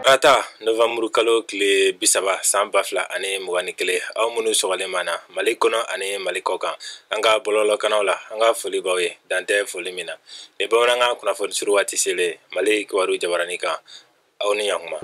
Tarata novanburu kalo tile bi saba san ba fila ani mugan ni kelen aw minnu sɔgɔlen b'an na mali kɔnɔ ani mali kɔ kan an ka bɔlɔlɔkanaw la an ka foli b'aw ye dan tɛ foli min na ni bamanankan kunnafoni surun waati selen mali kibaru jabaranin kan aw ni ɲakuma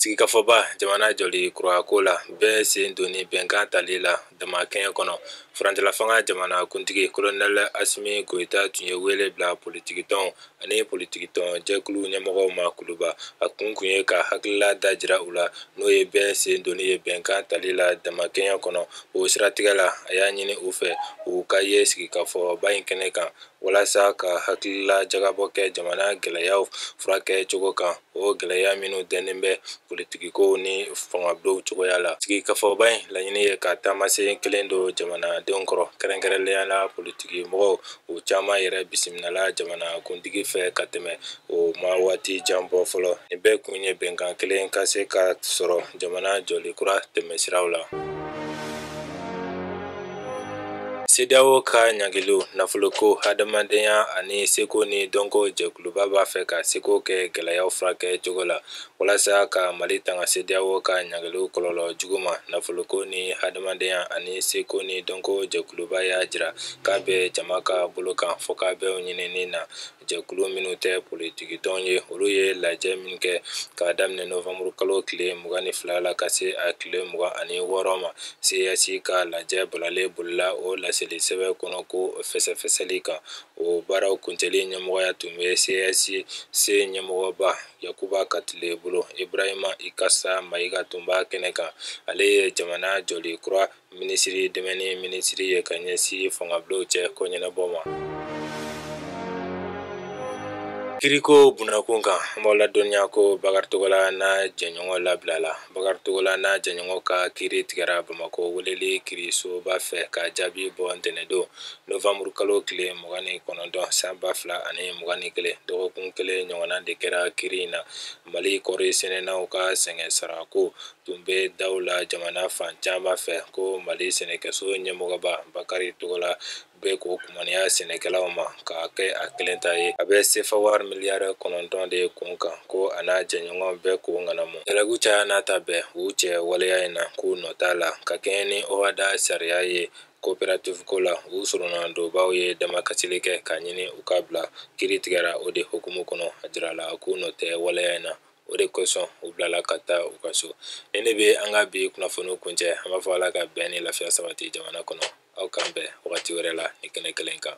sigikafɔba jamana jɔli kurako la bɛɛ sen donni bɛnkan tali la damakɛɲɛ kɔnɔ furancɛlafanga jamana kuntigi kolonɛl asimi goyita tun ye wele bila politikitɔnw ani politikitɔn jɛkulu ɲɛmɔgɔw ma kuluba a kun kun ye ka hakilila dajira u la n'o ye bɛɛ sen donni ye bɛnkan tali la damakɛɲɛ kɔnɔ o siratigɛ la a y'a ɲini u fɛ u ka ye sigikafɔba in kɛnɛ kan walasa ka hakilila jagabɔ kɛ jamana gɛlɛyaw furakɛ cogo kan o gɛlɛya minnu dɛnnen bɛ politikikow ni fangabulonw cogoya la sigikafɔba in laɲini ye ka taamasen kelen don jamanadenw kɔrɔ kɛrɛnkɛrɛnnenya la politiki mɔgɔw u caman yɛrɛ bisimilala jamanakuntigi fɛ ka tɛmɛ o ma waati jan bɔ fɔlɔ nin bɛɛ kun ye bɛnkan kelen ka se ka sɔrɔ jamana jɔli kura tɛmɛsiraw la CEDEAO ka ɲangiliw nafoloko hadamadenya ani seko ni dɔnko jɛkuluba b'a fɛ k'a seko kɛ gɛlɛyaw furakɛ cogo la walasa ka mali tanga CEDEAO ka ɲangiliw kɔlɔlɔ jugu ma nafoloko ni hadamadenya ani seko ni dɔnko jɛkuluba y'a jira k'a bɛ jama ka bolo kan fɔkabɛnw ɲinini na jɛkulu minnu tɛ politiki tɔn ye olu ye lajɛ min kɛ k'a daminɛ novanburu kalo tile mugan ni fila la ka se a tile mugan ani wɔɔrɔ ma CES ka lajɛ balalen bolila o laseli sɛbɛn kɔnɔ ko fɛsɛfɛsɛli kan o baaraw kuncɛli ɲɛmɔgɔya tun bɛ CESC ɲɛmɔgɔba Yakuba Katile bolo Ibrahima Ikasa Mayiga tun b'a kɛnɛ kan ale ye jamana jɔli kura minisiri dɛmɛni minisiri ye ka ɲɛsin fangabulonw cɛ ko ɲɛnabɔ ma kiriko bunakun kan an b'aw ladɔnniya ko bakari togola n'a jɛɲɔgɔn labilala bakari togola n'a jɛɲɔgɔn ka kiri tigɛra bamakɔ weleli kirisoba fɛ ka jaabi bɔ ntɛnɛdon novanburu kalo tile mugan ni kɔnɔntɔn san ba fila ani mugan ni kelen dɔgɔkun kelen ɲɔgɔnna de kɛra kiri in na mali kɔri sɛnɛnaw ka sɛgɛn sarako tun bɛ daw la jamana fan caman fɛ ko mali sɛnɛkɛso ɲɛmɔgɔba bakari togola bɛ k'o kumaniya sɛnɛkɛlaw ma k'a kɛ a kelen ta ye a bɛ sefa wari miliyari kɔnɔntɔn de kun kan ko a n'a jɛɲɔgɔn bɛ k'o ŋanamu jalaki caya n'a ta bɛɛ u cɛ waleya in na k'u nɔ t'a la ka kɛɲɛ ni OHADA sariya ye coopérative ko la u soronadonbaaw ye damakasili kɛ k'a ɲini u ka bila kiri tigɛra o de hukumu kɔnɔ a jirala k'u nɔ tɛ waleya in na o de kosɔn u bilala ka taa u ka so nin de bɛ an ka bi kunnafoniw kuncɛ an b'a fɔ ala ka bɛn ni lafiya sabati jamana kɔnɔ aw k'an bɛn wagati wɛrɛ la nin kɛnɛ kelen kan